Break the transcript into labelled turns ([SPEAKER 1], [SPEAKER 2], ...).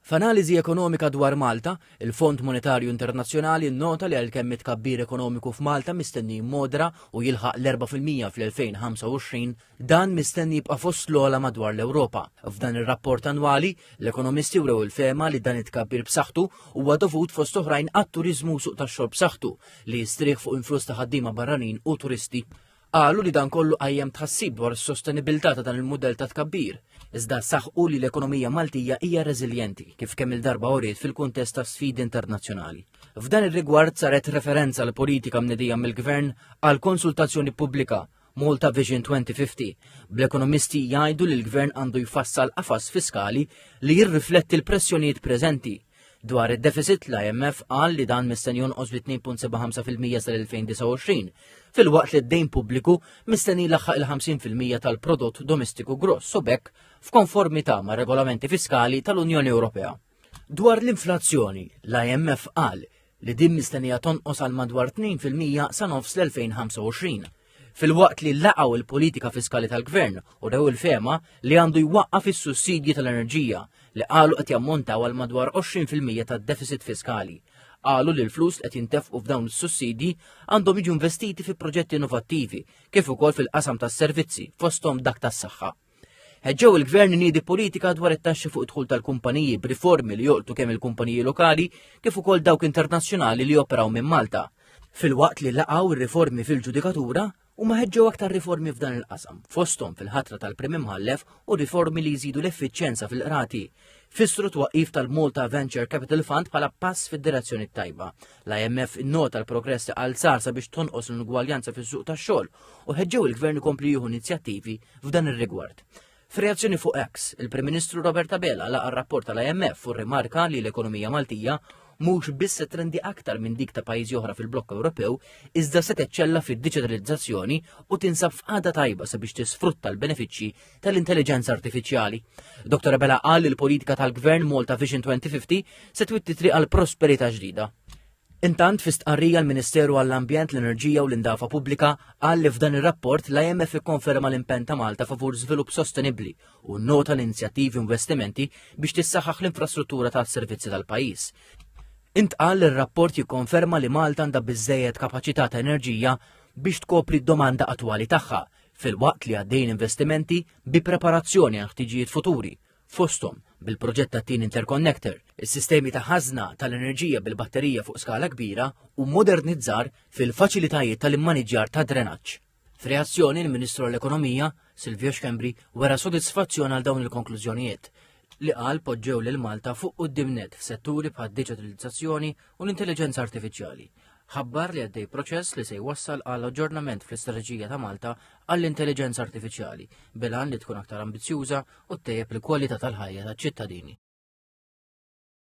[SPEAKER 1] F'analiżi ekonomika dwar Malta, il-Fond Monetarju Internazzjonali nnota li għalkemm it-tkabbir ekonomiku f'Malta mistenni jimmodera u jilħaq l-4 fil-mija fl-2025, dan mistenni jibqa' fost l-ogħla madwar l-Ewropa. F'dan ir-rapport annwali, l-ekonomisti wrew il-fehma li dan it-tkabbir b'saħħtu huwa dovut fost oħrajn għat-turiżmu u suq tax-xogħol b'saħħtu li jistrieħ fuq influss ta' ħaddiema barranin u turisti. Qalu li dan kollu qajjem tħassib dwar is-sostenibilità ta' dan il-mudell ta' tkabbir, iżda saħqu li l-ekonomija Maltija hija reżiljenti kif kemm il-darba uriet fil-kuntest ta' sfidi internazzjonali. F'dan ir-rigward saret referenza l politika mnedija mill-Gvern għal konsultazzjoni pubblika Malta Vision 2050, bl-ekonomisti jgħidu li l-Gvern għandu jfassal qafas fiskali li jirrifletti l-pressjonijiet preżenti Dwar id-defisit l-IMF qal li dan mistenni jonqos bi 2.75 fil-mija sal-2029, filwaqt li d-dejn pubbliku mistenni laħħaq il-50 fil-mija tal-prodott domestiku gross u bekk f'konformità mar-regolamenti fiskali tal-Unjoni Ewropea. Dwar l-inflazzjoni, l-IMF qal li din mistennija tonqos għal madwar 2% sa nofs l-2025 filwaqt li laqgħu il-politika fiskali tal-gvern u rew il-fema li għandu jwaqqaf is-sussidji tal-enerġija li qalu qed jammontaw għal madwar 20% tad-deficit fiskali. Qalu li l-flus qed jintefqu f'dawn is-sussidji għandhom jiġu investiti fi proġetti innovattivi kif ukoll fil-qasam tas-servizzi fosthom dak tas-saħħa. Ħeġġew il-Gvern iniedi politika dwar it-taxxi fuq id-dħul tal-kumpaniji b'riformi li joqtu kemm il-kumpaniji lokali kif ukoll dawk internazzjonali li joperaw minn Malta. Filwaqt li laqgħu r-riformi fil-ġudikatura, huma ħeġġew aktar riformi f'dan il-qasam, fosthom fil-ħatra tal-Prim Imħallef u riformi li jżidu l-effiċjenza fil-qrati, fissru twaqif tal-Malta Venture Capital Fund bħala pass fid-direzzjoni t-tajba. L-IMF innota l-progress li għal sar sabiex tonqos l-ingwaljanza fis-suq tax-xogħol u ħeġġew il-Gvern ikompli jieħu inizjattivi f'dan ir-rigward. F'reazzjoni fuq X, il-Prim Ministru Robert Abela laqa rapport tal-IMF u rimarka li l-ekonomija Maltija mhux biss trendi aktar minn dik ta' pajjiżi oħra fil-blokk Ewropew, iżda se teċċella fid-diġitalizzazzjoni u tinsab f'qagħda tajba sabiex tisfrutta l-benefiċċji tal-intelligenza artifiċjali. Dr. Abela qal li l-politika tal-Gvern Malta Vision 2050 se twitti triq għal prosperità ġdida. Intant fi stqarrija l-Ministeru għall-Ambjent, l-Enerġija u l-Indafa Pubblika qal li f'dan ir-rapport l-IMF ikkonferma l-impenn ta' Malta favur żvilupp sostenibbli u nota l-inizjattivi u investimenti biex tissaħħaħ l-infrastruttura tas-servizzi tal-pajjiż. Intqal li r-rapport jikkonferma li Malta għandha biżżejjed kapaċità ta' enerġija biex tkopri d-domanda attwali tagħha, filwaqt li għaddejjin investimenti bi preparazzjoni għal ħtiġijiet futuri, fosthom bil-proġett tat-tieni interconnector, is-sistemi ta' ħażna tal-enerġija bil-batterija fuq skala kbira u modernizzar fil-faċilitajiet tal-immaniġġjar tad-drenaġġ. F'reazzjoni l-Ministru għall-Ekonomija, Silvio Schembri, wera sodisfazzjon għal dawn il-konklużjonijiet li qal poġġew lil Malta fuq quddiem net f'setturi bħad-diġitalizzazzjoni u l-intelliġenza artifiċjali ħabbar li għaddej proċess li se jwassal għal aġġornament fl-istrateġija ta' Malta għall-intelliġenza artifiċjali, bilan li tkun aktar ambizzjuża u ttejjeb il-kwalità tal-ħajja taċ-ċittadini.